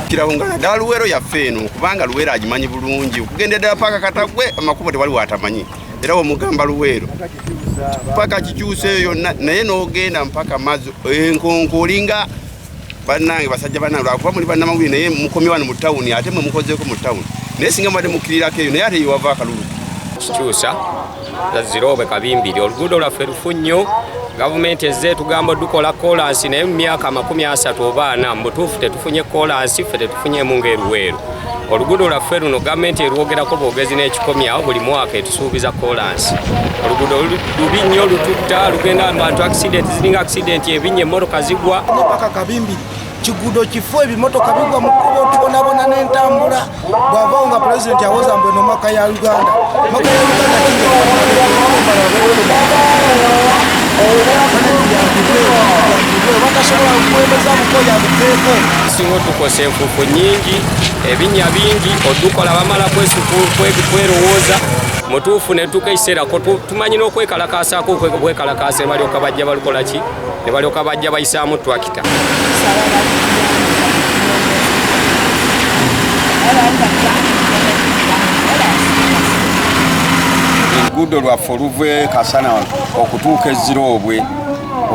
kirawo nga naddala luweero yaffe eno kubanga luweero agimanyi bulungi okugenda ddala paaka katagwe amakubo tewali watamanyi era wemugamba luweero paka kikyuseeyo yonna naye n'ogenda mpaka mazzi enkonko olinga bannange basajja banna lwakuba muli bannamawulire naye mukomye wano mu tawuni ate mwe mukozeeko mu tawuni naye singa mubadde mukkirirako eyo naye ate yewava akalulu kikyusa zaziroobe kabimbiri oluguudo lwaffe lufu nnyo gavumenti ezze etugamba dukola kolansi naye mu myaka amakumi asatu oba ana mubutuufu tetufunye kolansi ffe tetufunyemu ngaeruweeru oluguudo lwaffe luno gavumenti erwogerako bwogezi n'ekikomyawo buli mwaka suubiza kolansi oluguudo lubi nnyo lututta lugenda abantu accident ziringa accident ebinnya emmotoka zigwa paka kabimbi kiguudo kifu ebimotoka bigwa mu kkubo tubonabona n'entambula bwavawo nga pulezidenti awoza mbu eno maka ya uganda maka ya uganda batasobola kuwemeza mukoya buteeko singa otukosa enfuufu nyingi ebinnya bingi odukola bamala kwerowooza mutuufu netuuka ekiseera tumanyi n'okwekalakaasaako okwekalakaasa nebalyoka bajja balukola ki nebalyoka bajja bayisaamu twakita oluguudo lwaffe oluve kasana okutuuka eziroobwe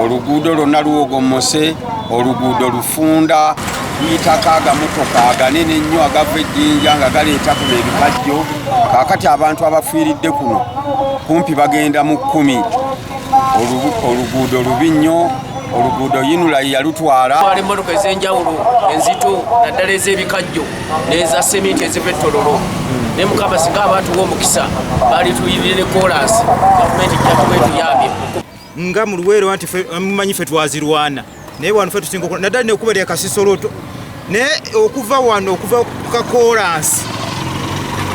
oluguudo lwonna luwogomose oluguudo lufunda tuyitako agamotoka aganene ennyo agava ejjinja nga galeeta kuno ebikajjo kaakati abantu abafiiridde kuno kumpi bagenda mu kkumi oluguudo lubi nnyo oluguudo yinula yalutwala ali mmotoka ez'enjawulo enzito naddala ez'ebikajjo n'eza seminti eziva ettololo ne mukama singa abaatuwa omukisa baali tuyirire ne koolaasi gavumenti jjatuba etuyambye nga mu luweero nti eh, mumanyi fe twazirwana naye wano fe tusinga okola naddala nekuba lya kasisoloto naye okuva wano okuva ku kakoolansi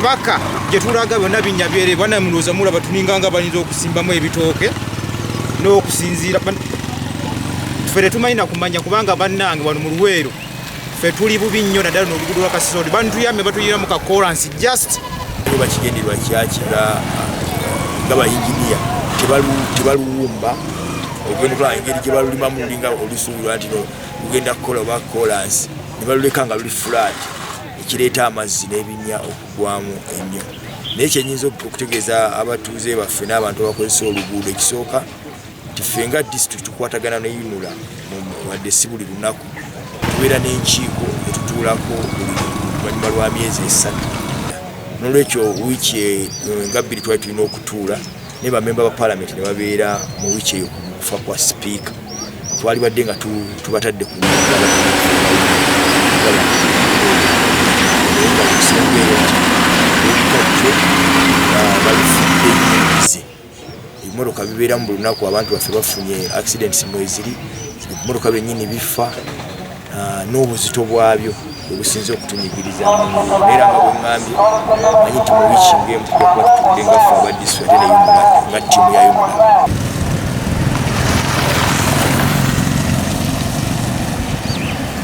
paka gye tulaga byonna binnya byere bana mulowooza mulaba tuninga nga bayinza okusimbamu ebitooke n'okusinziira fe tetumanyi na kumanya kubanga bannange wano mu luweero fe tuli bubi nnyo naddala nolugudo lwa kasisodi bantuyambe batuyira mu kakoransi just oba kigenderwa kyakira nga bayinginiya tebaluwumba ogenda okulaba engeri gye balulimamu olinga olusuubirwa nti no lugenda kukola oba kolansi ne baluleka nga luli fulaati ekireeta amazzi n'ebinya okugwamu ennyo naye kyenyinza okutegeeza abatuuze baffe n'abantu abakozesa oluguudo ekisooka nti ffe nga disitulikiti tukwatagana ne yunula wadde si buli lunaku tubeera n'enkiiko etutuulako oluvannyuma lwa myezi esatu nolwekyo wiiki e, e, nga bbiri twali tulina okutuula naye bamemba ba palamenti ne babeera mu wiiki eyo kufa kwa sipiika twalibadde nga tubatadde ku ebimotoka bibeeramu buli lunaku abantu baffe bafunye accidents mweziri ebimotoka byennyini bifa ah, n'obuzito bwabyo obusinze okutunyigiriza era nga bwengambye manyi nti mu wiiki ngemu tujja kuba tutudde nga ffe aba disitulikiti ate neyumula nga ttiimu yayumula